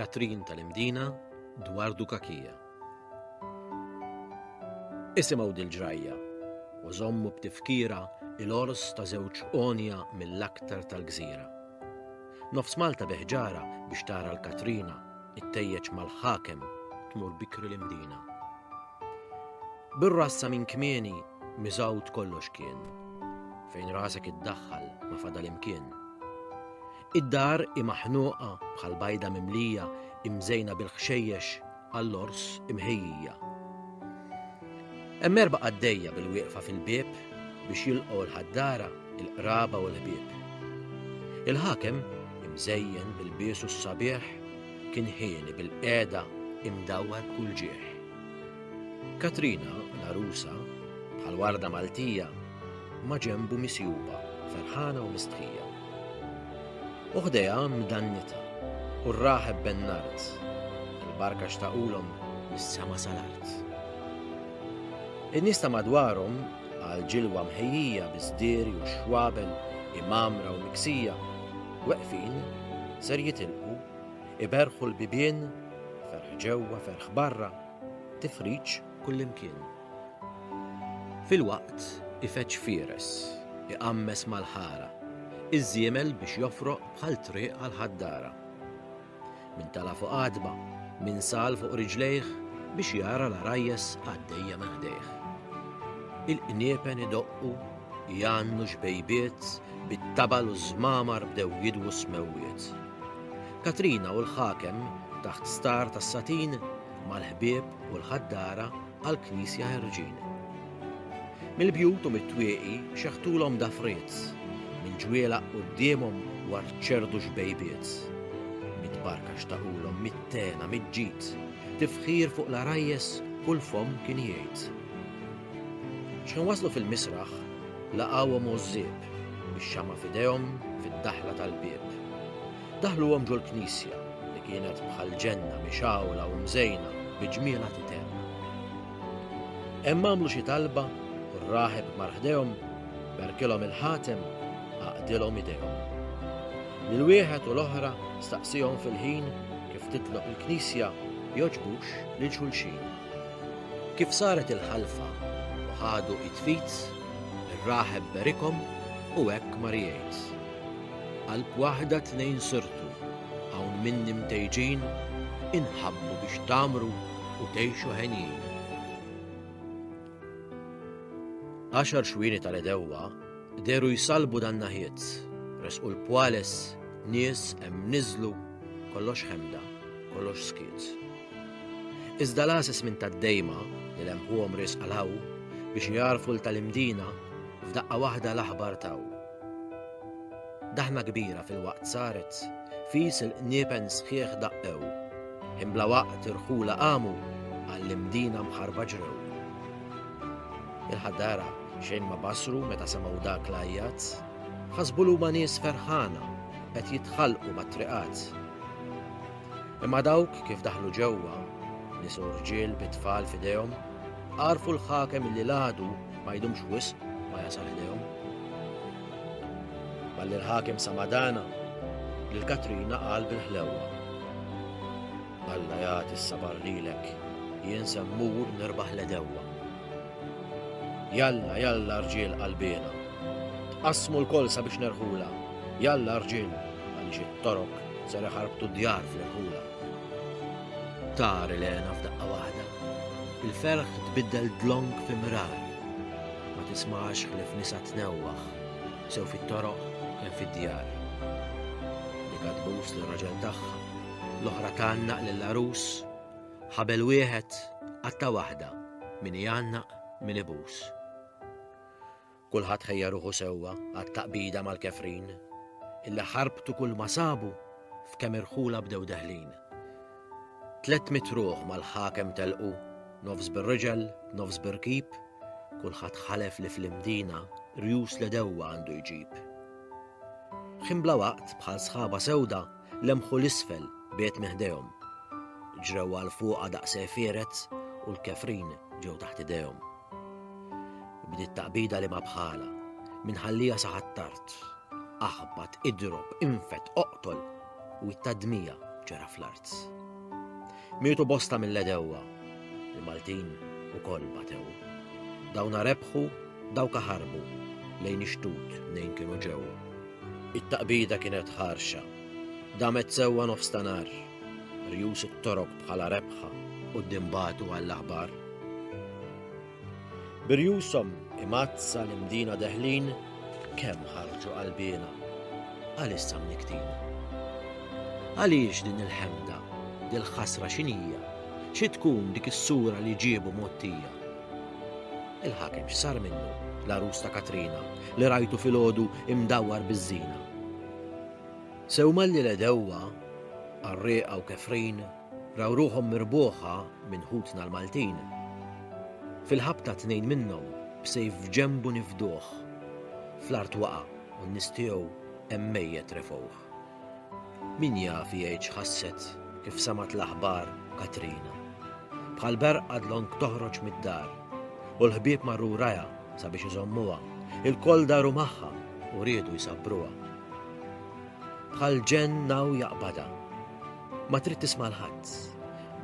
Katrin tal-Imdina dwar Dukakija. Isimgħu dil-ġrajja u żommu b'tifkira il-ors ta' żewġ onja mill-aktar tal-gżira. Nofs Malta beħġara biex tara l-Katrina Ittejjeġ mal-ħakem tmur bikri l-imdina. Bir-rassa minn kmieni miżgħud kollox kien, fejn rasek iddaħħal ma fadal imkien. Id-dar imaħnuqa bħal bajda mimlija imżejna bil-ħxejjex għall-ors imħejjija. Hemm erba' qaddejja bil-wieqfa fil-bieb biex jilqgħu l-ħaddara, il-qraba u l-ħbieb. Il-ħakem, imżejjen bil-bies u s-sabiħ, kien ħieni bil-qiegħda imdawwar b'kull ġieħ. Katrina, l-għarusa, bħal warda Maltija, ma' ġenbu misjuba, ferħana u mistħija. U ħdejha mdannitha, u r-raħeb ben-nard, il-barka xtaqulhom mis-sema sal-art. In-nies ta' madwarhom, għal ġilwa mħejjija bi sdiri u xwabel imgħammra u miksija, weqfin, ser jitilqu, iberħu l-bibien, ferħ ġewwa, ferħ barra, tifriġ kullimkien. Filwaqt ifeġġ fieres, iqammes mal-ħara, iż-żiemel biex jofroq bħal triq għall-ħaddara. Min tala' fuq għatba, min sal fuq riġlejh biex jara l-għarajjes għaddejja minn ħdejh. Il-qniepen idoqqu, jgħannu xbejbiet, bit-tabal u ż-żmamar bdew jidwu s-smewwiet. Katrina u l-ħakem, taħt star tas-satin, mal-ħbieb u l-ħaddara għall-Knisja Ħerġin. Mill-bjut u mit-twieqi xeħtulhom dafriez, minn ġwiela quddiemhom war ċerdu xbejbiet. Mit-barka xtaqulhom mit-tena, mit-ġid, tifħir fuq l-arajjes u l-fom kien jgħid. Xħin waslu fil-misraħ, laqawhom użżib, bix-xama fidejhom fid-daħla tal-bieb. Daħluhom ġol-knisja, li kienet bħal ġenna mixgħula u mżejna bi ġmielha titgħenn. Hemm għamlu xi talba u r-raħeb mar ħdejhom, berkilhom il-ħatem, għaqdilhom idejhom. Lil wieħed u l-oħra staqsihom fil-ħin kif titloq il-knisja jogħġbux lil xulxin. Kif saret il-ħalfa u ħadu id fid, ir-raħeb berikhom u hekk mar jgħid. Qalb waħda tnejn sirtu, hawn minni mtejġin, inħabbu biex tgħammru u tgħixu henjin. Għaxar xwieni tal-għedewwa dehru jsallbu dan-naħiet, resqu l-pwales, nies hemm niżlu, kollox ħemda, kollox skiet. Iżda l-għases minn tad-dejma li lemħuhom riesq għal hawn biex jagħrfu l tal-imdina f'daqqa waħda l-aħbar taw. Daħna kbira filwaqt saret, fis il-qniepen sħiħ daqqew, ħin bla waqt irħula qamu, għall-imdina mħarrba ġrew. Il-ħaddara xejn ma basru meta semgħu dak l-għajjat, ħasbu l nies ferħana qed jitħallqu mat-triqat. Imma dawk kif daħlu ġewwa, nies u rġiel bit-tfal f'idejhom, Għarfu l-ħakem illi l-għadu ma jdumx wisq ma jasal ħdejhom. Balli l-ħakem samadana lil Katrina qal bil-ħlewwa. Alla jagħti s-sabar lilek jien semmur nirbaħ l-edewwa. Jalla, jalla rġiel qalbina. Tqassmu l-kol sabiex nerħula. Jalla rġiel għaliex it-torok ser ħarbtu djar fl-irħula. Tar il-għena f'daqqa waħda. Il-ferħ tbiddel dlonk fi mrar. Ma tismax ħlief nisa tnewwaħ, sew fit-toroq kemm fid-djar. Dika tbus lir-raġel tagħha, l-oħra tgħannaq lill-għarus. Ħabel wieħed, qatta' waħda, min igħannaq, min ibus. Kulħadd ħejja ruħu sewwa għat-taqbida mal-kefrin, illi ħarbtu kulma sabu f'kemm irħula bdew deħlin. Tlett mitt ruħ mal-ħakem telqu, nofs bir-riġel, nofs bir-rkib, kulħadd ħalef li fl-Imdina rjus l-għedewwa għandu jġib. Ħin bla waqt bħal sħaba sewda lemħu 'l isfel b'għid minn ħdejhom. Ġrew għal fuqha daqs għefierez u l-kefrin ġew taħt idejhom. Bdiet taqbida li ma bħalha, minn ħallija sa ħattart. Aħbat, idrob, infet, oqtol u t-tadmija ġara fl-art. Mietu bosta mill-għedewwa, il-Maltin ukoll batew. Dawna rebħu, dawka ħarbu, lejn ix-xtut mnejn kienu ġew. It-taqbida kienet ħarxa, damet sewwa nofs ta' nar, rjus it-Torok bħala rebħa quddiem bagħtu għall-aħbar. B'irjushom imgħaddsa l-imdina deħlin, kemm ħarġu qalbiena, għalissa mnikktin. Għaliex din il-ħemda, dil-ħasra x'inhija, xi tkun dik is-sura li ġiebu mottija? Il-ħakem x'sar minnu? l-arus ta' Katrina, li rajtu fil-ħodu imdawwar bizzina. Sew malli l-edewwa, għarriqa u kefrin, Raw ruħhom mirbuħa minn ħutna l-Maltin. Fil-ħabta tnejn minnhom b'sejf f'ġenbu nifduh. Fl-art waqa' u n-nies tiegħu hemm mejjet refgħuh. Min jaf jgħid x'ħasset kif semgħet l-aħbar Katrina. Bħal berqa dlonk toħroġ mid-dar u l-ħbieb marru wrajha sabiex iżommuha, ilkoll daru magħha u riedu jsabbruha. Bħal ġenn hawn jaqbadha. Ma trid tisma' 'l ħadd.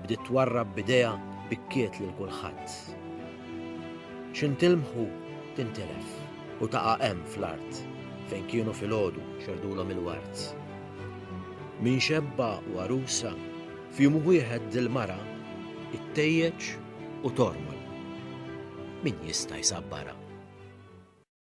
Bdiet twarrab b'idejha bikkiet lil kulħadd. X'intilmħu tintilef u taqa' hemm fl-art fejn kienu filgħodu xerdulhom il-wart. Min xebba u għarusa, f'jum wieħed dil-mara ittejjeġ u tormol. Min jista' jsabbarha?